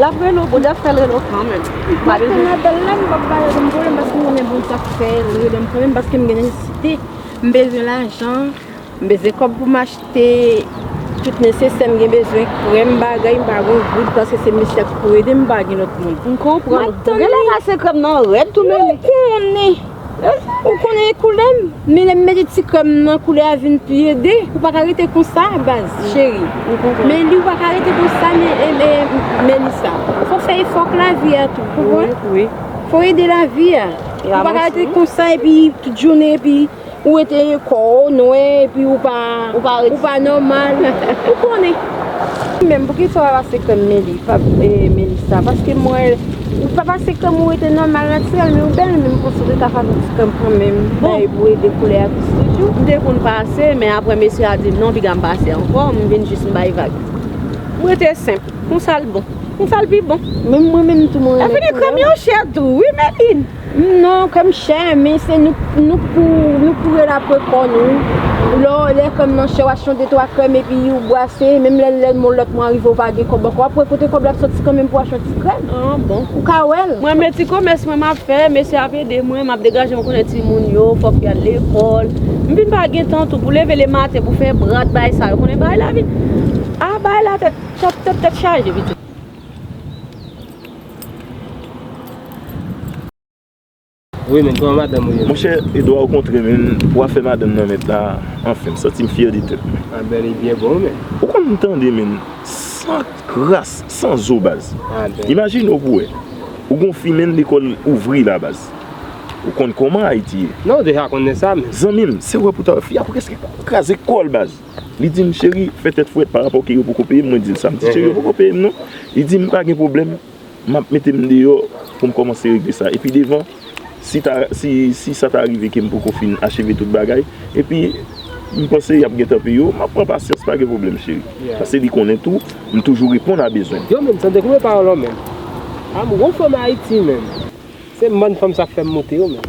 Lap relo boo dèf fèl relo kanmenm. Map tann la bèl la m pap pale ankò m pase m konnen bon sak fè li rele m kanmenm paske m gen nesesite m bezwen lajan m bezwen kòb pou m achte tout nesesè m gen bezwen krèm bagay m pa gen yon goud paske se mesye a ki pou ede m m pa gen lòt moun. M konprann ou. Gen lè pase krèm nan rèd tou mennen. Ou konnen e koulèm men lèm mete ti krèm nan koulè a vin pi ede ou pa ka rete konsa baz cheri men li ou pa ka rete konsa Melissa fok fè efò ak lavi a tou ou konprann fok ede lavi a ou pa ka rete konsa epi tout jounen epi ou rete kò ou nwè epi ou pa nòmal ou konnen menm poukisa ou pa pase krèm Melissa paske mwen. Ou pa pase krèm ou rete nòmal natirèl men ou bèl menm konsa ou te ka pase ti krèm kanmenm bay bouyi de koulè a plis toujou. M te konn pase men aprè mesye a di non piga m pase ankò m vin jis m bay vag. M rete senp. Konsa l bon. Konsa l pi bon. Menm mwen menm tou mwen renmen koulè. Efini krèm yo chè tou wi Medin. Non kèm chè men se nou k pou rele apre kò nou Lè kèm nan chè w achte yon de twa krèm epi ou bwase Menm lè yon lòt mwa rive ou pa gen kòb ankò w ap wè kote kòb la ap soti kanmenm pou w achte yon ti krèm Ou ka wè l Mwen men ti komès mwen m ap fè Mesye ap ede mwen M ap degaje mwen konnen timoun yo fòk y al lekòl M vin pa gen tan tou pou leve le maten pou fè brat bagay sa yo konnen bagay lavi a bagay la tèt chaje pitit. Wi men kòman madanm ou ye? Monchè Edouard ou kontre men pou afè madanm nan mèt la anfen m santi m fyè de tèt mwen. Ah ben li byen bon wi men. Ou konn tande men san kras san zo baz. Ah ben. Imajine w pou wè. Ou gon fi men lekòl ouvri la baz. Ou konn kòman Ayiti ye. Non ou deja konnen sa men. Zanmi m se wè pou ta wè fi a preske kraze kò l baz. Li di m, cheri, fè tèt frèt pa rapò ke yo poko peye m. Mwen di l sa. M di, cheri, yo poko peye m non. Li di m, pa gen pwoblèm, m ap mete m deyò pou m kòmanse regle sa. Epi devan, si ta, si, si sa ta rive ke m poko fin acheve tout bagay, epi m panse y ap gentan peye yo, m ap pran pasyans, pa gen pwoblèm cheri. Paske li konnen tou, m toujou reponn a bezwen. Yo menm, tande konbyen pawòl an menm. An m gwo fanm Ayiti menm. Se m bann fanm sa k fè m moute yo menm.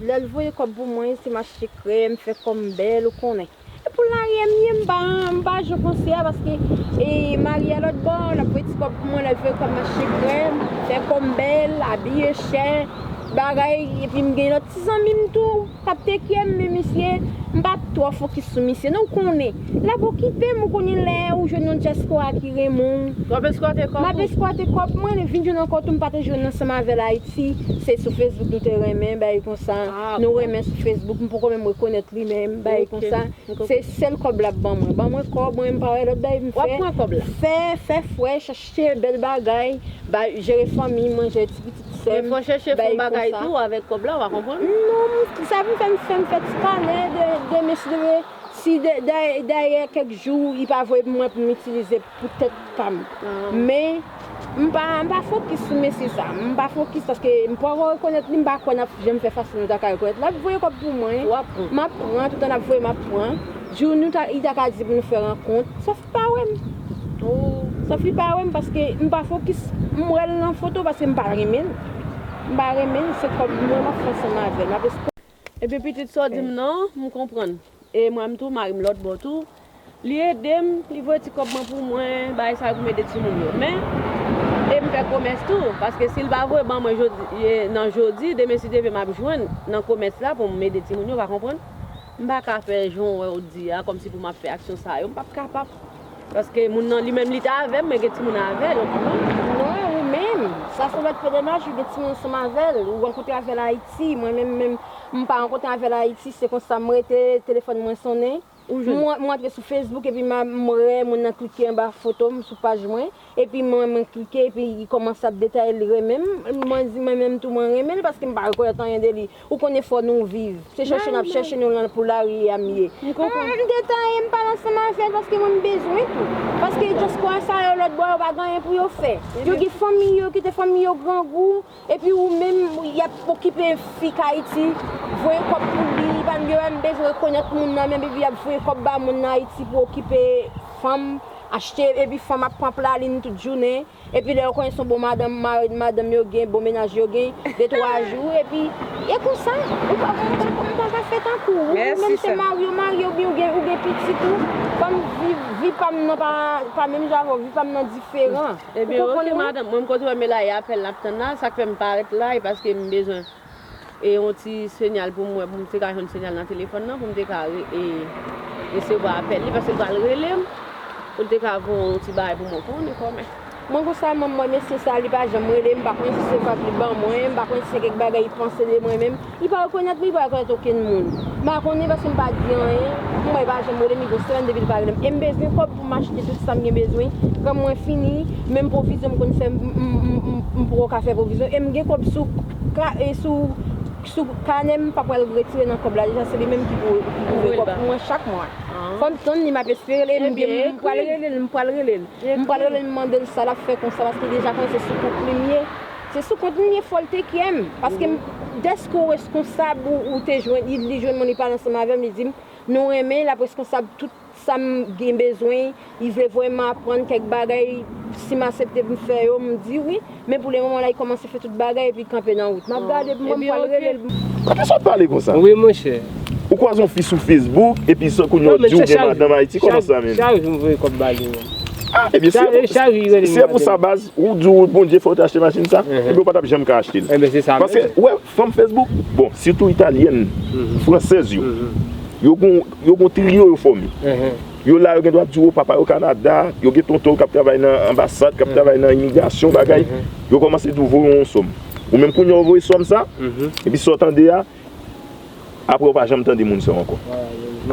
Lel voye kob pou mwen se mache krem fe kom bel ou konnen. Epou laryè m ye m pa m pa jwe konse a paske e Maria lot bò lap voye ti kob pou mwen lel voye kob mache krem fe kom bel abiye chè bagay epi m gen lot ti zanmi m tou kap tekye m men misye m pa tro fokis sou misye non ou konnen lap okipe m ou konnen lè ou jwenn yon dyaspora ki renmen w map eskwate kob mwen vin jwenn ankò tou m pa te jwenn ansanm avel ayiti. Si se sou Facebook nou te renmen bagay konsa nou renmen sou Facebook m poko menm rekonèt li menm bagay konsa se sèl kòb lap ban mwen ban mwen kòb mwen m pa wè lòt bagay pou m fè wap pran kòb la fè fè fresh achte bèl bagay bay jere fanmi m jere ti pitit sè m bagay konsa men fò chèche fon bagay tou avèk kòb la wa konprann non sa pou m fè m fè m fè ti kanè de mesye si dèyè kèk jou li pa voye pou mwen pou m itilize. pou tèt pa m. Men, m pa m pa fokis sou mesye sa. M pa fokis paske m poko rekonèt li, m pa kwè n ap janm fè fas nou ta ka rekonèt. L ap voye kòb pou mwen, m ap pran, toutan l ap voye m ap pran. Jou nou ta li ta ka di pou nou fè rankont, sòf li pa wè m. Sòf li pa wè m paske m pa fokis. M wè l nan foto paske m pa renmen l. M pa renmen l, se kòb mwen m ap fè ansanm avè l. Epi pitit sa w di m nan, m konprann. E mwen m tou, mari m lòt bò tou, li ede m, li voye ti kòb mwen pou mwen, bagay sa yo pou m ede timoun yo. Men, e m fè komès tou, paske si l pa voye ban mwen nan jodi, demen si Dye vle m ap jwenn nan komès la pou m ede timoun yo, w pa konprann? M pa ka fè jan w wè w di a, kòmsi pou m ap fè aksyon sa yo, m p ap kapab. Paske moun nan li menm li ta avèm men gen timoun avèl ou konprann? Non ou menm, sa se lòt pdnh ou gen timoun ansanm avèl ou rankontre avèl ayiti mwen menm menm m pa rankontre avèl ayiti se konsa m rete telefòn mwen sonnen m antre sou facebook epi m wè moun nan klike anba foto m sou paj mwen epi mwen m klike epi li kòmanse ap detaye li renmen m mwen di mwen menm tou mwen renmen l paske m pa rekonèt anyen de li Ou konnen fò nou viv. Se chèche nap chèche nou lan pou lari a m ye. M gentan ye m pale ansanm avèl paske mwen m bezwen tou. Paske dyaspora sa yo lòt bò yo pa gen anyen pou yo fè. Yo gen fanmi yo kite fanmi yo grangou epi ou menm yap okipe fi k ayiti voye kòb pou li li pa yo pa menm bezwen rekonèt moun nan menm epi yap voye kòb ba moun nan ayiti pou okipe fanm achte epi fanm ap pran plalin tout jounen. Epi lè yo konnen son bon madanm mared madanm yo gen bon menaj yo gen de twa jou epi e konsa ou pa ou pa ou pa ka fè tankou ou menm te marye ou marye oubyen ou gen ou gen pitit ou banm viv vi pam nan pa pa menm jan avèw vi pam nan diferan ou konprann mwen. Ebyen ok madanm mwen m koz wè melaye apèl nap tann la sak fèm parèt la e paskem bezwen. e yon ti senyal pou m wè pou m te ka jwenn senyal nan telefòn nan pou m te ka resevwa apèl li paske l pral rele m pou l te ka gen yon ti bagay pou mwen konnen kòmè. Mwen konn sa manm mwen mesye sa li pa janm rele m m pa konnen si se kòb li ban mwen m pa konnen si se kèk bagay li panse de mwen menm li pa rekonèt mwen li pa rekonèt okenn moun m pa konnen paske m pa di anyen m wè li pa janm rele m li gen yon semèn depi l pa rele m e m bezwen kòb. Pou m achte tout sa m gen bezwen Kan mwen fini Menm pwovizyon m konn fè M poko ka fè pwovizyon E m gen kòb sou Sou kanè m pa pral retire nan kòb la deja se li menm ki pou ouvri kòb pou mwen chak mwa Fò m tann li m ap espere l M pral rele l M pral rele l M pral rele l mande l sa l ap fè konsa paske deja konnen se sou kont li m ye Se sou kont m ye fò l te kyè m Paske m Dèske ou reskonsab ou te jwenn li jwenn mwen li pale ansanm avè m li di m Nou renmen l ap reskonsab tout Sa m gen bezwen, li vle voye m aprann kèk bagay, si m asepte pou m fè yo, m di wi, men pou le moman la li kòmanse fè tout bagay epi kanpe nan wout. M ap gade pou m wè m pral rele l. Poukisa w ap pale konsa? Wi monchè. Ou kwaze yon fi sou Facebook epi se kounye ou di ou gen madanm Ayiti, kòman sa menm? Chak jou m voye kòb ba li menm. Ah ebyen si e pou sa baz ou di w Bondye fè w te achte machin sa ebyen ou pa tap janm ka achte l paske ou wè fanm Facebook bon sitou italyèn, fransèz yo yo gon Yo gon trio yo fòme. Yo la yo gen dwa di w papa yo Kanada, yo gen tonton yo k ap travay nan anbasad, k ap travay nan imigrasyon bagay, yo kòmanse di w voye yon sòm. Ou menm kounye a ou voye sòm sa, epi sa w tande a, apre ou pa janm tande moun sa ankò.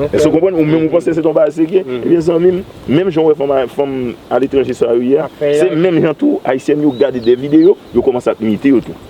Èske ou konprann? Ou menm ou panse se te yon bagay serye. Ebyen zanmi m, menm jan ou wè fanm aletranje sa yo ye a, se menm jan tou Ayisyèn yo gade de videyo, yo kòmanse ap imite yo tou.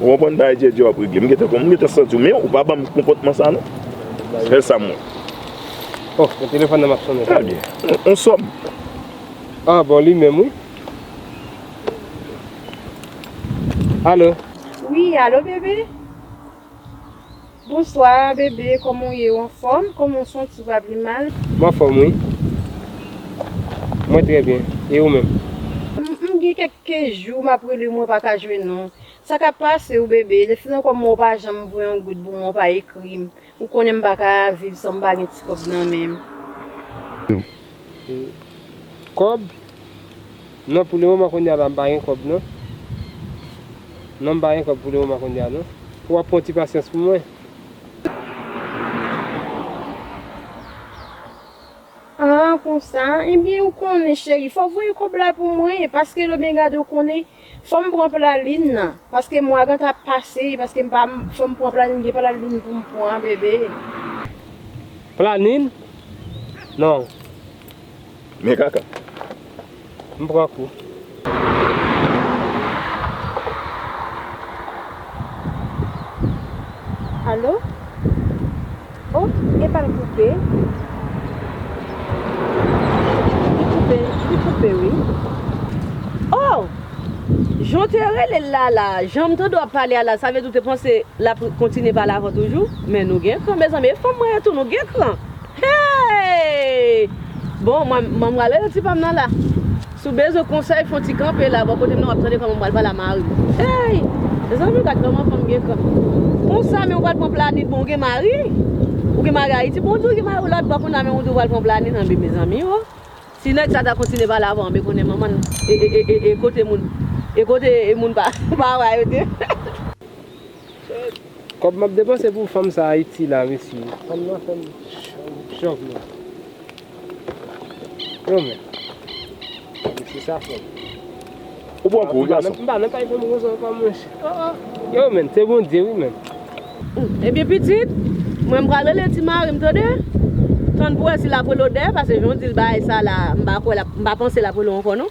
Ou konprann bagay djèdjè wap regle. M gentan konprann, m gentan santi w men ou pa banm konpòtman sa non. Sèl sa m wè. Oh men telefòn nan ap sonnen. Trè byen. On sòm. Ah bon li menm wi. Allo. Wi allo bebe. Bonswa bebe koman w ye ou anfom koman w santi w pa pi mal. M anfom wi mwen tre byen e ou menm. M gen kek jou map rele mwen pa ka jwenn ou. Sa kap pase w bebe le fina koman w pa janm voye yon goud pou mwen w pa ekri m ou konnen m pa ka viv san m pa gen ti kob nan men m. Kob? Non pou le moman kounya la m pa gen kob non non m pa gen kob pou le moman kounya non fok wap pran ti pasyans pou mwen. Ah konsa ebyen ou konnen cheri fok voye kob la pou mwen paske lo byen gade ou konnen fom pran plaline nan paske mwa ganta ap pase paske m pa fom pran plaline gen plaline pou m pran bebe. Planin? Non Men kaka. M pran kou. Alo? O, epa l koupe. Li koupe, li koupe wi. O! Jan w te rele l la a la, jan m tande w ap pale a la, sa vle di w te panse l ap kontinye pale avè w toujou? Men nou gen kran mezanmi, e fanm mwen yo tou nou gen kran! Hey! Bon mwen mwen prale nan ti pam nan la. Si w bezwen konsèy fon ti kanpe la bò kote m nan wap tande kòman m pral pale a mari m. Hey! Mezanmi gad kòman fanm gen kran. Konsa men ou pral pran plani bon ou gen mari? Ou gen mari Ayiti bon ou di ou gen mari ou lòt bò konna men ou di ou pral pran plani nan bi mezanmi oo. Si nèg sa ta kontinye pale avè w anbe konnen manman l e e e e kote moun e kote moun pa pa wè yo te. Kob map depanse pou fanm sa ayiti la mesye fanm nan fem chòk mwen Yon men Mesye sa fò Ou pran kou wi gason Mpa nan kay fanm konsa anko mwen chè Yon men se bondye wi men Ebyen pitit Mwen pral rele ti marim tande Tann pou wè si lap rele w dèyè pase jan w dil bay sa la mpa kwè mpa panse lap rele w anko non.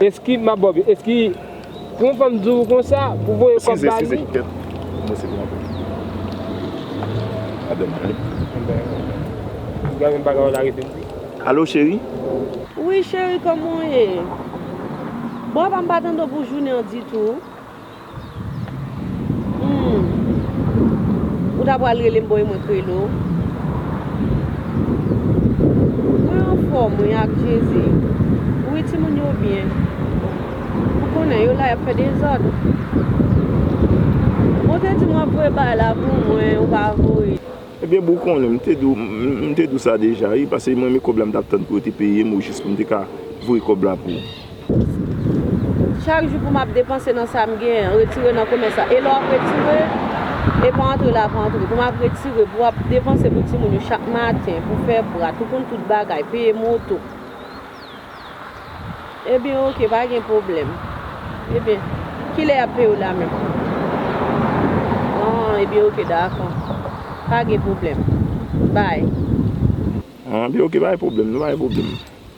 Eski map ba w byen eski pou yon fanm di w konsa pou w voye kòb ba li. Alo cheri. Wi cheri kòman w ye. Bon apa m pa tande w pou jounen an ditou. Humm ou ta pral relem boy mwen krele w Mwen anfom wi ak jezi Wi timoun yo byen Ou konnen yo la yap fè dezòd Ou te di m wap voye bagay la pou mwen ou pa voye. Ebyen boo ou konnen m te di w m te di w sa deja wi pase mwen men kob la m tap tann pou yo te peye m ou jis pou m te ka voye kob la pou ou. Chak jou pou map depanse nan sa m genyen retire nan komès la e lè wap retire e pa antre la pa antre pou map retire pou wap depanse pou timoun yo chak maten pou fè prat pou konn tout bagay peye moto ebyen ok pa gen pwoblèm ebyen kilè yap peye w la menm an ebyen ok dakò pa gen pwoblèm bay. An ebyen ok pa gen pwoblèm nan pa gen pwoblèm.